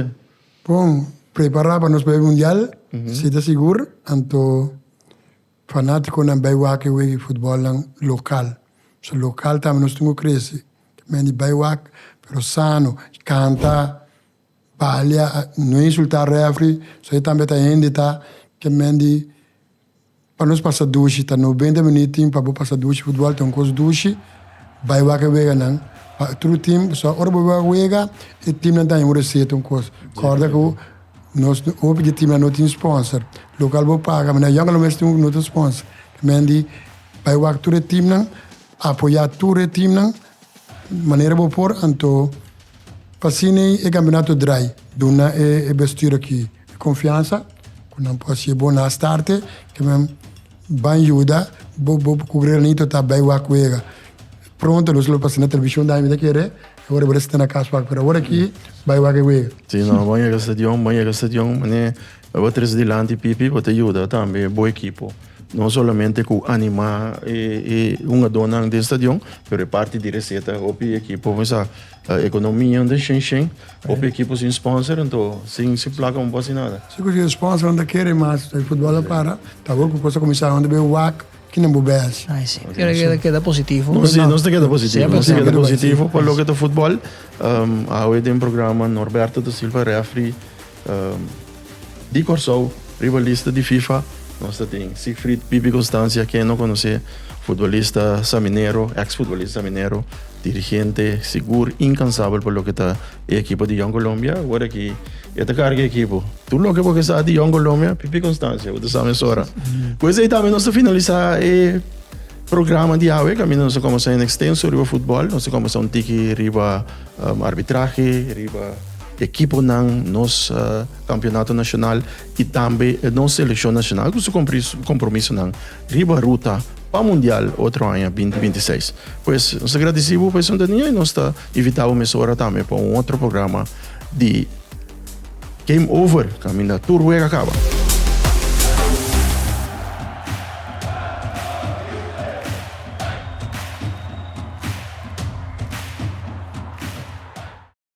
Bon, prepará pa nos bai mundial, si ta sigur, anto fanátikonan bai wak e wega di futbolnan lokal. So lokal tambe nos tin ku krese. Men di bai wak, pero sano, kanta, balia, no insultá refri, so e tambe ta hende ta ke men di. Pa nos pasa dushi ta noventa minut tin pa bo pasa dushi futbal ta un kos dushi bai wak weganan pa otro tim pasobra ora bo bai wak wega e timnan ta haña un reseta un kos kòrda ku nos hopi di e timnan no tin spònser lokal bo paga mi na yònga lo mes tin un otro spònser ta mindi bai wak tur e timnan apoyá tur e timnan. Manera bo por anto pa sini e kampionato draai, duna e bestidor aki e konfiansa ku nan por hasi e bon starte, ke men ban yuda bo bo ku granito ta bai wak wega. Pronto nos lo pasa na televishon daño mi ta kere, e ora bo resete na kas wak, pero awor aki bai wak e wega. Si no, bo yega stadion, bo yega stadion, mane. Lo bo tres dilanti pipi bo ta yuda tambe bo ekipo no solamente ku animá e e hungadónan den stadion pero e parti di reseta hopi ekipo me sa ekonomia un ta shen shen hopi ekipo sin spònser anto sin sin plaka un por haci nada. Si ku si e spònsernan ta kere mas futbòl a para ta awor ku kos ta kuminsá unda bo e wak Kina bo behas? Ai si. Nos ta keda positivo. Nos ta keda positivo. Nos ta keda positivo pa loke ta futbol. Awe den programa Norberto da Silva refri di Kòrsou ribalista di fifa nos ta tin Siegfried Pipi Constancia ken no konosé futbolista saminero ex futbolista saminero dirigente sigur inkansabel pa loke ta E ekipo di Young Colombia awor aki e ta carga e ekipo. Tur loke bo ke sa di Young Colombia, pipi constancia bo ta sa mesora. Cu esey tambe nos ta finalisa e programa di awe, caminda nos ta comenzá en extenso riba futbol, nos ta comenzá un tiki riba arbitrahe, riba ekiponan, nos campeonato nacional y tambe nos seleccion nacional cu su compromisonan riba ruta pa mundial otro aña binti binti seis. Pues nos ta gradici bo pa e sontania y nos ta. Invita bo mesora tambe pa un otro programa di Game Over, caminda tur wega caba.